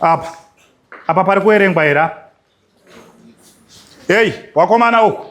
apa apa pari kuerengwa here apa heyi wakomana uku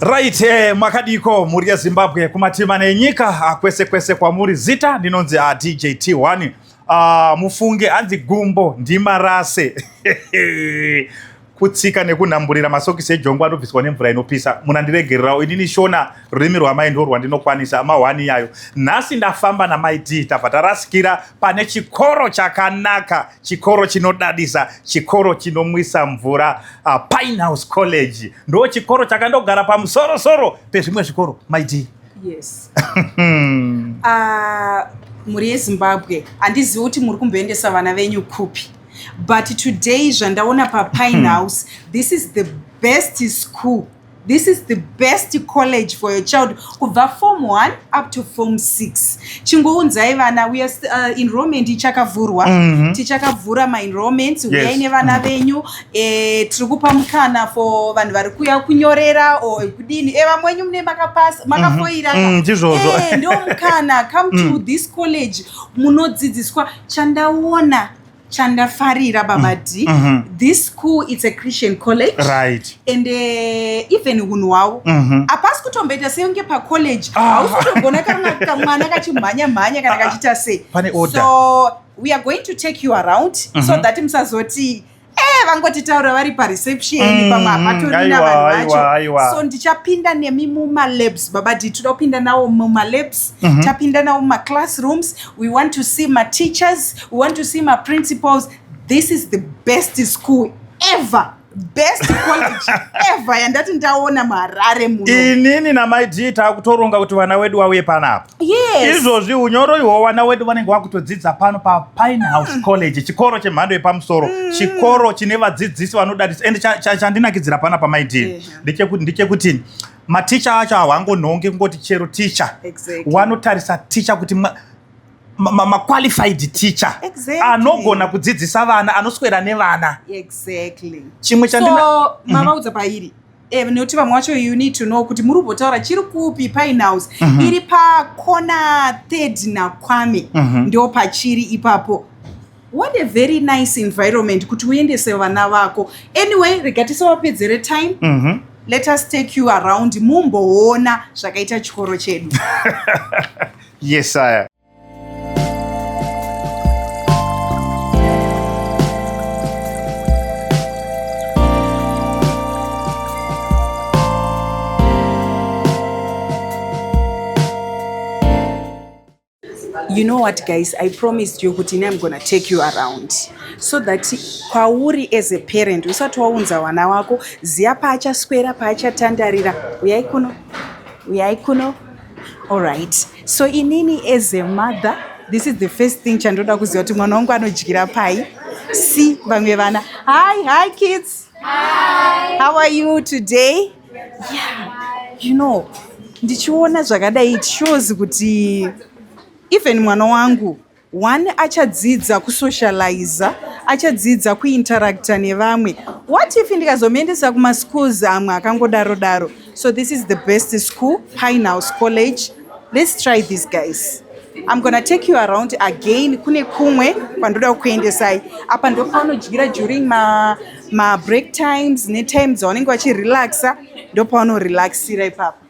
Right, eh, makadiko mhuri yeZimbabwe kumatima nenyika ah, kwese kwese kwamuri zita ndinonzi ah, DJ T1 ah, mufunge hanzi gumbo ndimarase kutsika nekunhamburira masokisi ejongwa anobviswa nemvura inopisa munandiregererawo inini shona rurimi rwamai ndo rwandinokwanisa amahwani iyayo nhasi ndafamba namai d tabva tarasikira pane chikoro chakanaka chikoro chinodadisa chikoro chinomwisa mvura uh, pine house college ndo chikoro chakandogara pamusorosoro pezvimwe zvikoro mai d yes uh, mhuri yezimbabwe handizivi kuti muri kumboendesa vana venyu kupi but today zvandaona papine hmm. house this is the best school this is the best college for your child kubva form 1 up to form 6 chingounzai vana we are uh, enrollment ichakavhurwa mm -hmm. tichakavhura maenrollment uyai yes. nevana mm-hmm. venyu mm -hmm. eh, tiri kupa mukana for vanhu vari kuya kunyorera o kudini e eh, vamwe wenyu mune makapasa mm-hmm. makafoira mm -hmm. mm, eh, ndo mukana come to mm. this college munodzidziswa chandaona chandafarira baba mm. d mm -hmm. this school it's a christian college right and uh, even hunhu hwavo mm -hmm. apasi kutomboita senge pacollege ah. hausi ah. kutogona kana kamwana kachimhanya mhanya kana ah, ah. kachita sei so we are going to take you around mm -hmm. so mhm. that musazoti Eh, vangotitaura vari pareception mm, pamwe hapatori navanhu vacho so ndichapinda nemi mumalabs baba dii toda kupinda nawo mumalabs mm -hmm. tapinda nawo mumaclassrooms we want to see mateachers we want to see maprincipals this is the best school ever best college ever yandati ndaona muharare muno inini namai g takutoronga kuti vana wedu wauye panapa Yes. Izvozvi unyoro ihwo vana wedu vanenge vakutodzidza pano paPine House mm. College, chikoro chemhando yepamusoro, mm. chikoro chine vadzidzisi vanodadisa and chandinakidzira pana pamaidii ndechekuti ndechekuti maticha acho hawangonhongi kungoti chero ticha exactly. wanotarisa ticha kuti ma, maqualified ma, ma teacher exactly. anogona kudzidzisa vana anoswera nevana exactly. chimwe chandina so, mm -hmm. mavaudza pairi Eh, nekuti vamwe wacho you need to know kuti muri kubotaura chiri kupi pine house mm -hmm. iri pakona third nakwame mm -hmm. ndo pachiri ipapo what a very nice environment kuti uendese vana vako anyway rega tisavapedzere time mm -hmm. let us take you around mumboona zvakaita chikoro chedu yes aya you know what guys i promised you kuti ini im gonna take you around so that kwauri as a parent usati waunza wana wako ziya paachaswera paachatandarira uyai kuno uyai kuno allright So inini as a mother this is the first thing chandoda kuziva kuti mwana wangu anodyira pai si vamwe vana hi hi kids hi. how are you today yeah. you know ndichiona zvakadai it shows kuti even mwana wangu One achadzidza kusocializa, achadzidza kuinteracta nevamwe. What if ndikazomuendesa kumaschools amwe akangodaro daro? So this is the best school, Pinehouse College. Let's try these guys. I'm gonna take you around again kune kumwe kwandoda kukuendesai. Apa ndopaunodyira during ma, ma break times netime dzavanenge vachirelaxa, ndopaunorelaxira ipapo.